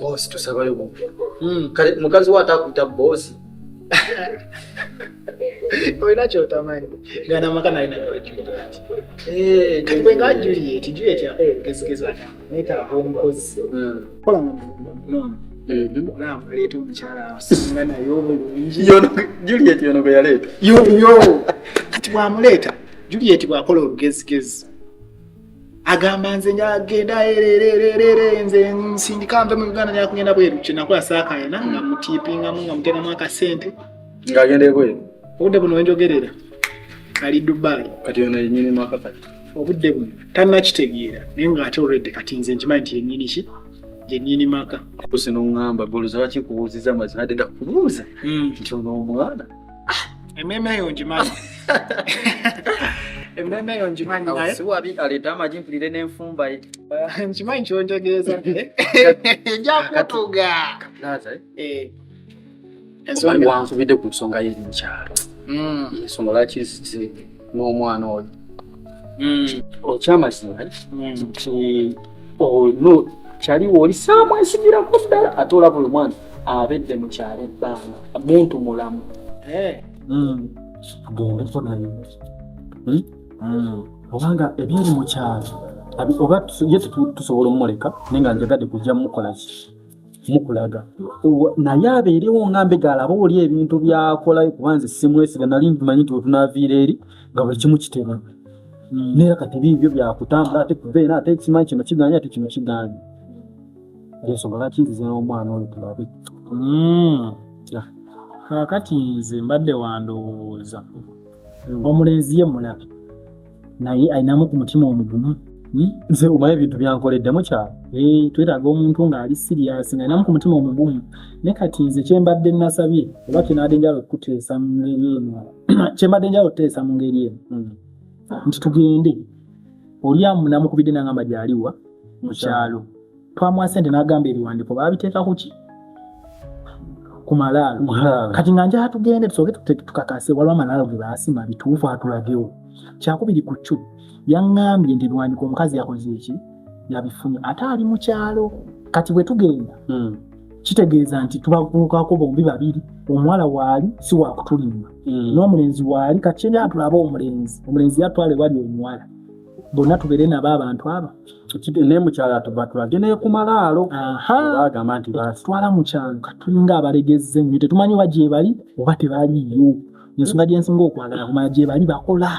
bosi tusabayo mu hmm, kale mukazi wa atakuta bosi olina kyotamanyi gana maka naye nayojuliet eh, kati bwenga juliet juliet yakola obugezigezi neetaaga omukozi hmm. kola nga leeta omukyala nga naye obulungi juliet yono gwe yaleeta yoyo kati bwamuleeta juliet bwakola olugezigezi agamba nze agenda ererererere nze nsindika nve mu uganda nakugenda bweru kyenakola saakayana nga hmm. mutipingamu nga muteramu akasente ng'agenda ebweru obudde buno wenjogerera ali dubai kati ono yenyini mwaka kati obudde buno tannakitegeera naye ng'ate olwedde kati nze nkimanyi nti yennyini ki yennyini maka kusi noŋŋamba goloza lwaki nkubuuziza mazima adde ndakubuuza hmm. nti ono omwana ah, emmeeme eyo ngimanyi emmeeme eyo ngimanyi naye siwabi aleeta amagi mpulire n'enfumba ye nkimanyi kyonjogeeza njakutuga ensonga wankubidde ku nsonga ye mukyalo hmm. ensonga lwaki nzize n'omwana oyo hmm. okyamazima hmm. nti ono oh, kyali wooli saamwesigirako ddala ate olaba oyo mwana abedde mu kyalo ebbanga muntu mulamu eh. gendeko naye obanga ebyali mu kyalo oba ye tusobola omumuleka naye nga njagadde kujja mukolaki mukulaga naye abeerewo nga mbega alaba oli ebintu byakolayo kuba nze simwesiga nali nkimanyi nti wetunaviira eri nga buli kimu kitera hmm. naye kati biibyo byakutambula ate kubeera ate ekimanyi kino kiganye ate kino kiganye ensonga lwaki nzize n'omwana oyo tulabe hmm. kakati nze mbadde wandowooza hmm. omulenzi ye mulabe naye alinamu ku mutima omugumu hmm? nze omanyi ebintu byankoledde mukyalo eh, twetaaga omuntu ng'ali siriyasi nga alinamu ku mutima omugumu ne kati nze kyembadde nasabye oba kyenaadde njala okuteesa mu ngeri eno kyembadde njala okuteesa mu ngeri eno hmm. nti tugende oli amunamukubidde nangamba gyaliwa mukyalo twamuwa sente nagamba ebiwandiko babiteeka kuki ku malaalo kati nga njaha tugende tusoke tukakase waliwo amalaalo ge baasima bituufu atulagewo kyakubiri ku kyu yaŋŋambye nti ebiwandiko omukazi yakoze eki yabifunye ate ali mu kyalo kati bwe tugenda hmm. kitegeeza nti tubakuukako bombi babiri omuwala waali si wakutulimba hmm. n'omulenzi waali kati kyeyatulaba omulenzi omulenzi yatwala ewali omuwala bonna tubeere nabo abantu abo naye mukyala batulage naye ku malaalo bagamba nti batwala mukyalo katulinga abalegezze nyo tetumanyi oba gyebali oba tebaliyo ensonga gyensinga okwagala kumala gyebali bakola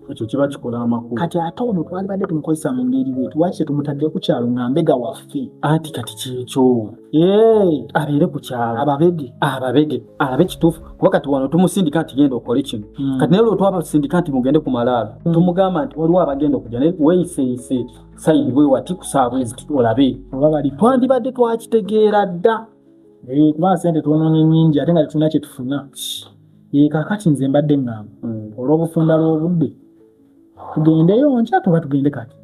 ekyo kiba kikola amakulu kati ate ono twalibadde tumukozesa mu ngeri we lwaki tetumutadde ku kyalo nga mbega waffe anti kati kyekyo abeere ku kyalo ababege ababege alabe kituufu kuba kati wano tumusindika nti genda okole kino hmm. kati naye lwetwabasindika nti mugende ku malaalo hmm. tumugamba nti waliwo abagenda okuja naye weyiseyise sayidi bwe wati kusaabwezi olabe twandibadde twakitegeera dda eh, kuba sente twononye nyingi ate nga tetulina kyetufuna eh, kakati nze mbadde ngamba hmm. olw'obufunda lw'obudde tugendeyo nkya tuba tugende kati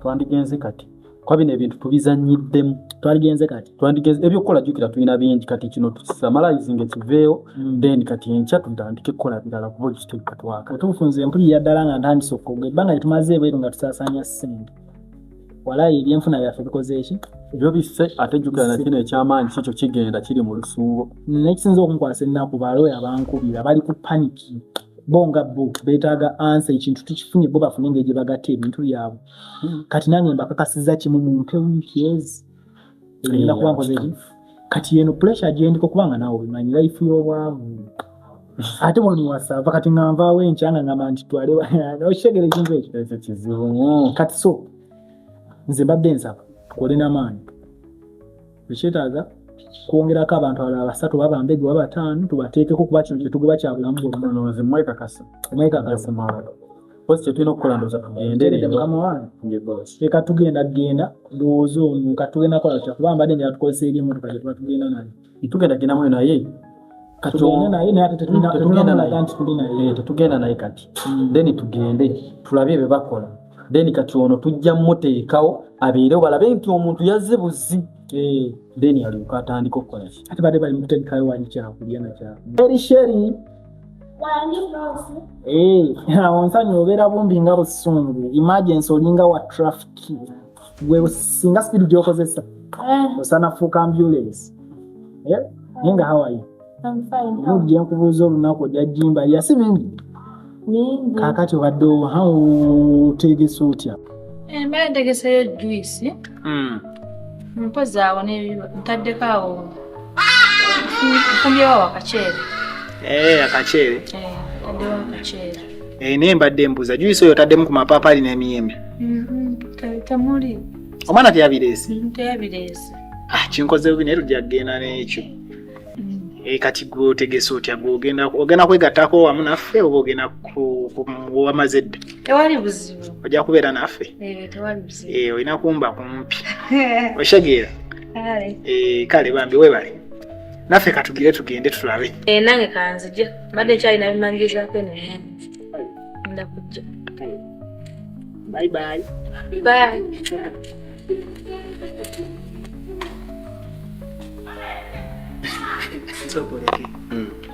twandigenze kati kuba bino ebintu tubizanyiddemu twaligenze kati twandigenze ebyokukola jukira tulina bingi kati kino tukisamalayizinga ekiveewo hmm. then kati enkya tutandike kukola birala kuba ekituikatwaka otuufu nze mpulira ddala nga ntandise okwogera ebbanga lyetumaze ebweru nga tusaasanya ssente walayi ebyenfuna byaffe bikoze eki ebyo biffe ate jjukira na kino ekyamaanyi kikyo kigenda kiri mu lusuubo nekisinza okunkwasa ennaku balooya bankubira bali ku paniki bo nga bo betaaga ansa ekintu tukifunye bo bafune engeri gye bagatta ebintu byabwe hmm. kati nange mbakakasiza kimu mumpe wiiki ezi kati yeno pressure gyendiko kubanga naawe obimanyi life y'obwavu ate buli muwasava kati nga nvaawo enkya nga ngamba nti twale okitegera ekintu ekyo ekyo kizibu kati so nze mbadde nsaba kole namaanyi ekyetaaga kwongerako abantu alala basatu baba mbegu baba bataano tubateekeko kuba kino kyetugoba kyabulamu bwomwekakasa mwekakasa Bosi kyetulina okukola ndoza tugendereeka tugenda genda ndowooza ono katugenda kola tya kuba mbadde nja tukozesa eri emotoka gyetuba tugenda naye tugenda gendamu naye tetugenda naye kati hmm. then tugende tulabe ebyo bakola then kati ono tujja muteekawo abeerewo balabe nti omuntu yazze buzzi eh. then alyoka atandika okukola ati badde bali mukutegekayo wanyikyakulya nakyaeri sheri onsanya obeera bumbi nga busungu emergency olinga wa traffic gwe singa speed gyokozesa eh. osana fuuka ambulance eh? naye nga hawaii mujja nkubuuza olunaku ojajjimba yasi mingi kakati obadde oteegesa otya eh, mbadde ntegeseyo juice hmm. mpozi awo ntaddeko awo nfumbyewo wakaceere eh, akaceere eh, taddewo akaceere eh, naye mbadde mbuza juyisi oyo taddemu ku mapaapaali n'emiyembe mm-hmm. temuli omwana teyabireese mm, teyabireese ah, kinkoze bubi naye tujja kugenda n'ekyo Eh, kati gwotegese otya gwogenda ogenda kwegattako wamu naffe oba ogenda wamaze dda tewali buzibu ojja kubeera naffe eh, Eh, olina kumba kumpi oshagira eh, kale bambi webale naffe katugire tugende tulabe eh, nange kanzija mbadde nkyalina bimanyirizako eno nda kujja bye bye bye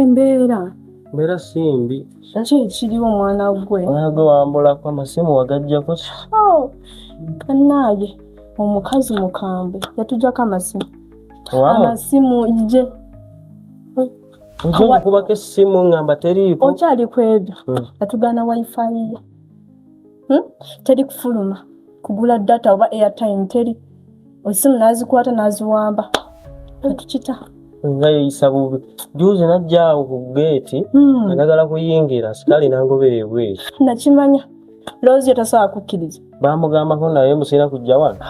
embeera mbeera si mbi nakyo ekiriwo omwana gwe omwana gwe wambulako amasimu wagajjako oh, bannange omukazi mukambwe yatujjako amasimu amasimu je nja okukubako essimu ngamba teriiko okyali ku ebyo hmm. yatugaana wifi ye hmm? teri kufuluma kugula data oba airtime teri esimu nazikwata naziwamba ekikita nga yeyisa bubi juuzi najjaawo ku geeti hmm. anagala kuyingira sikali nangobeera ebweru nakimanya loozi yo tasobola kukkiriza bamugambako naye musiina kujja wano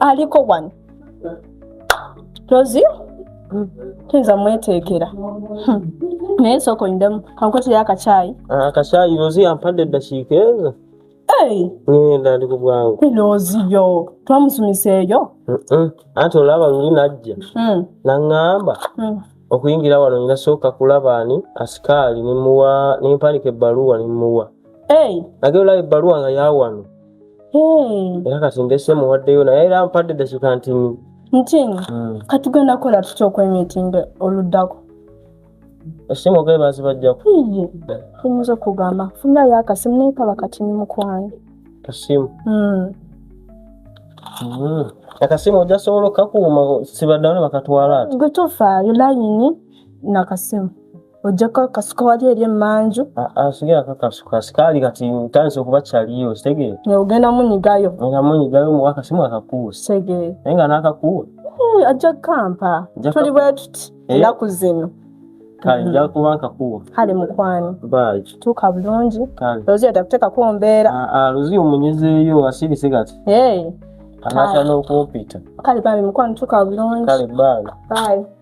aliko wano tozi tuyinza mweteekera hmm. naye nsooka onyidemu kankotera akakyayi ah, akakyayi rozi yampadde eddakiika ezo ngenda ndi ku bwangu rozi yo twamusumisa eyo anti olaba luli najja hmm. naŋŋamba hmm. okuyingira wano nyina sooka kulaba ani asikaali nemuwa nempandika ebbaluwa nemuwa nage olaba ebbaluwa nga yawano Hmm. era kati ndese muwaddeyo naye era mpadde dasuka ntini ntini hmm. katugenda kukola tutya okwemitinda oluddako esimu ogaye bazibajjako iye oyinza okugamba funira yo akasimu naye kaba kati ni mukwano kasimu hmm. akasimu ojasobola okakuuma sibaddawo ne bakatwala ati gwe tofaayo layini nakasimu Ojjako akasuka wali eri emmanju. Ah, ah, sigera kakasuka sikaali kati ntandise okuba kyaliyo ositegeera. Ne ogenda munyigayo. Ngenda munyigayo muwa akasimu akakuwe. Sitegeera. Naye nga n'akakuwe. Eh, ajja kukampa. Tuli bwe tuti eh? ennaku zino. Kale mm-hmm. nja kuba nkakuwa. Kale mukwano. Bye. Tuuka bulungi. Kale. Lozia atakuteekako mbeera. Ah, Lozia omunyizeeyo asirise kati. Hey. Anatya n'okumpita. Kale bambi mukwano tuuka bulungi. Kale bye. Bye.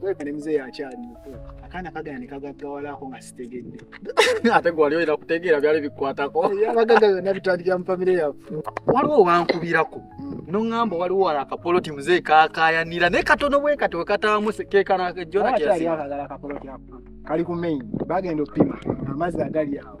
Kwekane mzee yakyali muto akaana kagana nekagaggawalako nga sitegedde ate gwali oyina kutegeera byali bikwatako abagaga byonna bitandikira mu famire yaffe waliwo wankubirako noŋŋamba waliwo wala akapoloti mzee kakayanira naye katono bwe kati wekataamu kekanajona kali ku main bagenda oppima amazzi agali awo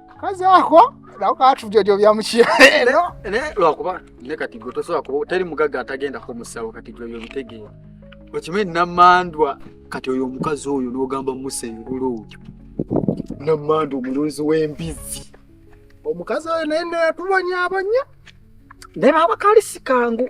kazi ako nawe katubyojo bya mukyere lero lwakuba ne kati gwe tosobola kuba teri mugagga atagenda ku musawo kati gwe byobitegeera okimanyi namandwa kati oyo omukazi oyo n'ogamba musa engulu oyo namandwa omulunzi w'embizzi omukazi oyo naye natubanyaabanya naye baaba kali sikangu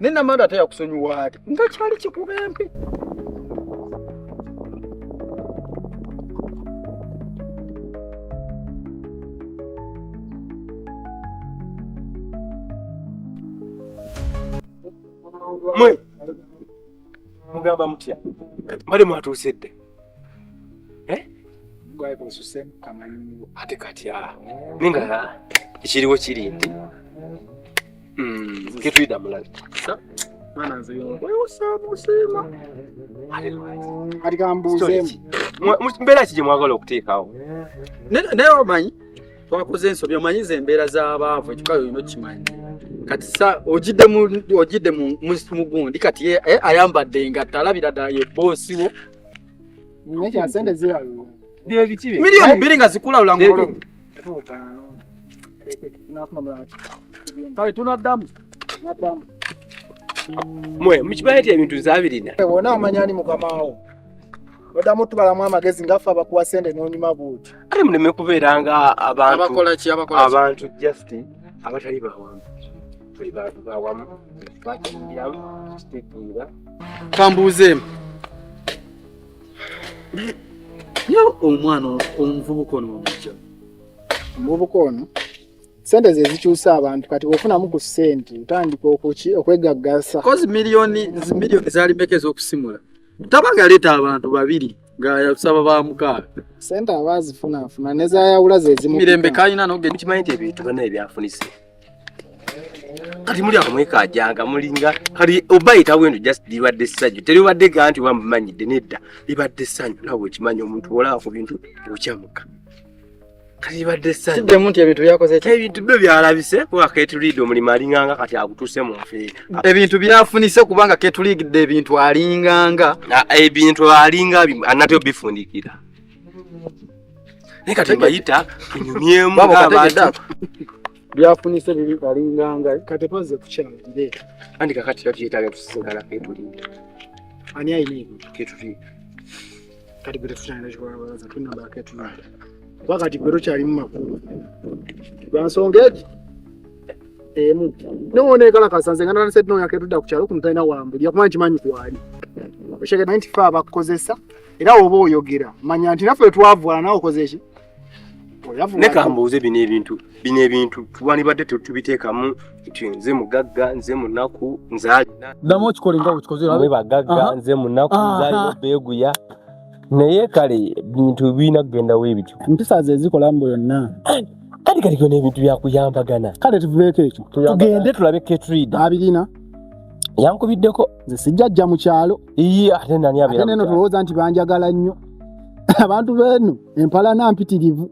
naye namanda ate yakusonyiwa ati nga kyali kikuba empi mwe mugamba mutya mbade mwatuuse dde eh? ate kati ah. ninga ekiriwo kiri nti Mm. Ngitwida mulali. Mwana nze yo. Wewe usabu sema. Kati kambuuze. Mbeera kije mwagala okuteekawo. Naye omanyi twakoze ensobi omanyi ze embeera z'abaavu ekikayo olina okimanyi. Kati sa ojidde mu ojidde mu mu gundi kati ye eh, ayambadde engatto alabira ddala ye boosi wo. Naye kya sente zirabibwa. Bye biki bye? Milioni bbiri nga zikulawula ngolo. kale tunaddamu naddamu mwe mukimanyi nti ebintu zabirina wona omanya ani mukamawo odamu tubalamu amagezi ngaffe abakuwa sente nonyuma buuti kale muleme kubeera nga abantu just abatali bawamu tuli bantu bawamu bakiyiramu kitegeera kambuuzeemu yo omwana omuvubuka ono wamujja omuvubuka ono sente ze zikyusa abantu kati bwofunamu ku sente otandika okuki okwegaggasa kozi miliyoni miliyoni zali meka ez'okusimula taba ngaleeta abantu babiri ngayasaba ba mukaaga sente aba azifunafuna nezayawula zezimumirembe kalina nogekimanyi nti ebintu bana ebyafunise kati muli awo mwekajanga mulinga kati oba yitawendo just libadde ssanyu teribadde ga nti wamumanyidde nedda libadde ssanyu nawe okimanyi omuntu olaba ku bintu okyamuka kati libadde ssanyu nti ebintu byakoze ebintu byo byalabise kuba ketuliide omulimu alinganga kati agutuse mu nfeera ebintu byafunise kubanga ketuliigidde ebintu alinganga ebintu alinga anate obifundikira naye kati mbayita tunyumyemu abada byafunise bibi balinganga kati paze kukyalire andi kakati tabyetaaga tusigala ketulinda ani ayina ebyo ketulinda kati gwe tetukyalina kikwabalaza tunamba ketulinda kuba kati gwe tokyalimu makulu lwa nsonga egi emu nowonekalakasa nze ngananasednoyaketuda kukyalo kuno talina wambulya kuba nkimanyi kwali osheke naye nti fe abakukozesa era oba oyogera manya nti naffe twavwala nawe okoze ki leka mbuuze bino ebintu bino ebintu twanibadde tetubiteekamu nti nze mugagga nze munaku nzadamu okikole nga okikozemwe bagagga nze munaku nzalina beeguya naye kale bintu birina kugenda webityo mpisa ze zikola mbu yonna kati kati kyona ebintu byakuyambagana kale tuvubeeko ekyo tugende tulabe ketrida abirina yankubiddeko nze sijja jja mu kyalo Iyi ate nani abira. Ate neno tuloza nti banjagala nnyo. Abantu benu empala na mpitirivu.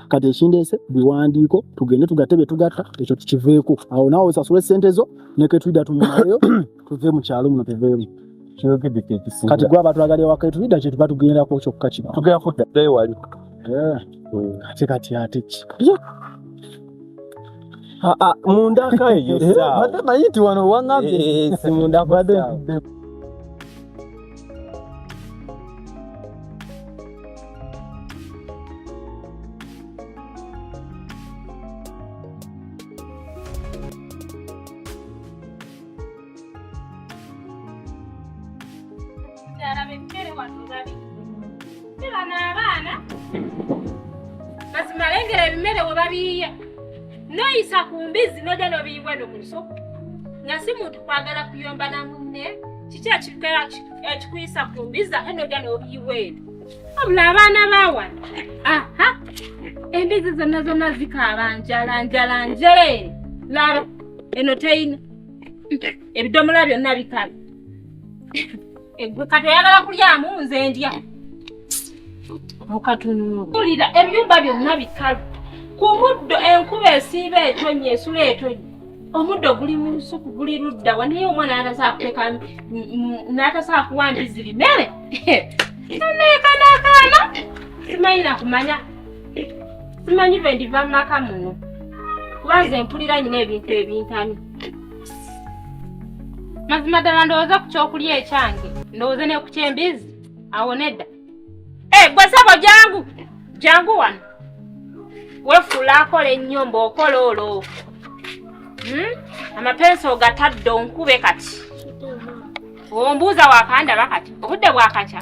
Kati ekindese biwandiiko tugende tugatebe tugatta ekyo tukiveeko. Awo nawo osasule sente zo ne ke tuida tunyumayo tuve mu kyalo muno tuveemu. Kati gwa abantu agali waka tuida kye tubatu genda ko kyokka kino. Tugenda kudda dai wali. Eh. Kati kati ate ki. Yeah. Ah, ah, munda kayo eh, eh, sawa. Hata maiti wana wanga eh, si munda bado. mazima ebimere we babiyiye noyisa ku mbizzi noja nobiyiwa no mu lusuku nga si muntu kwagala kuyomba na munne kiki ekikuyisa ku mbizzi ate noja nobiyiwa eno abula abaana bawana aha embizi zonna zonna zikaaba njala njala njere laba eno teyina ebidomola byonna bikalu egwe kati oyagala kulyamu nze ndya mukatunulira ebyumba byonna bikalu ku muddo enkuba esiiba etonnya esula etonnya omuddo guli mu lusuku guli ludda wa naye omwana natasakuteeka natasakuwa mbiziri mere nanekanakaana simanyi nakumanya simanyi lwe ndiva mu maka muno kuba nze mpulira nyina ebintu ebintamye mazima ddala ndowooza ku kyokulya ekyange ndowooze ne ku kyembizi awo nedda eh, gwe sabo jangu jangu wano wefuula akola ennyo mbaokola olwo hmm? amapensi ogatadde onkube kati ombuuza wakandaba kati obudde bwakakya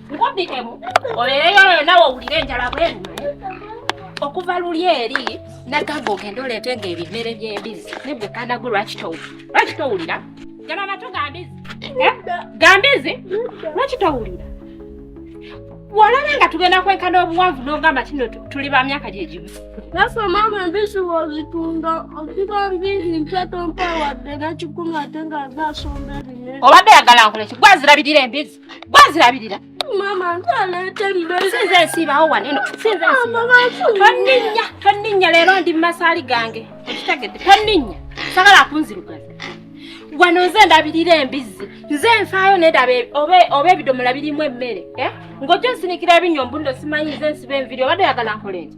nkubikemu obeereyo eyo nawe owulire enjala bwerume okuva luli eri nagamba ogende oleete nga ebimere by'embizi nebwe kanagu lwaki towulira lwaki towulira gana natu gambizi eh? gambizi lwaki towulira walaba nga tugenda kwenkana obuwanvu n'ogamba kino tuli ba myaka gye gimu nafe maama embisi wozitunda okiba mbizi mpya tompa wadde nakikumi ate nga azaasomba ebinene obadde yagala nkoleki gwazirabirira embizi gwazirabirira mama nsinze nsiibawo waneno sinze tonninya tonninya leero ndi mumasaali gange okitegedde tonninya sagala kunzirugaza wano nze ndabirira embizzi nze nfaayo nedaba e- oba ebidomola birimu emmere eh? ng'ojja nsinikira ebinyombu ndo simanyi nze nsiba enviri obadde oyagala nkola enti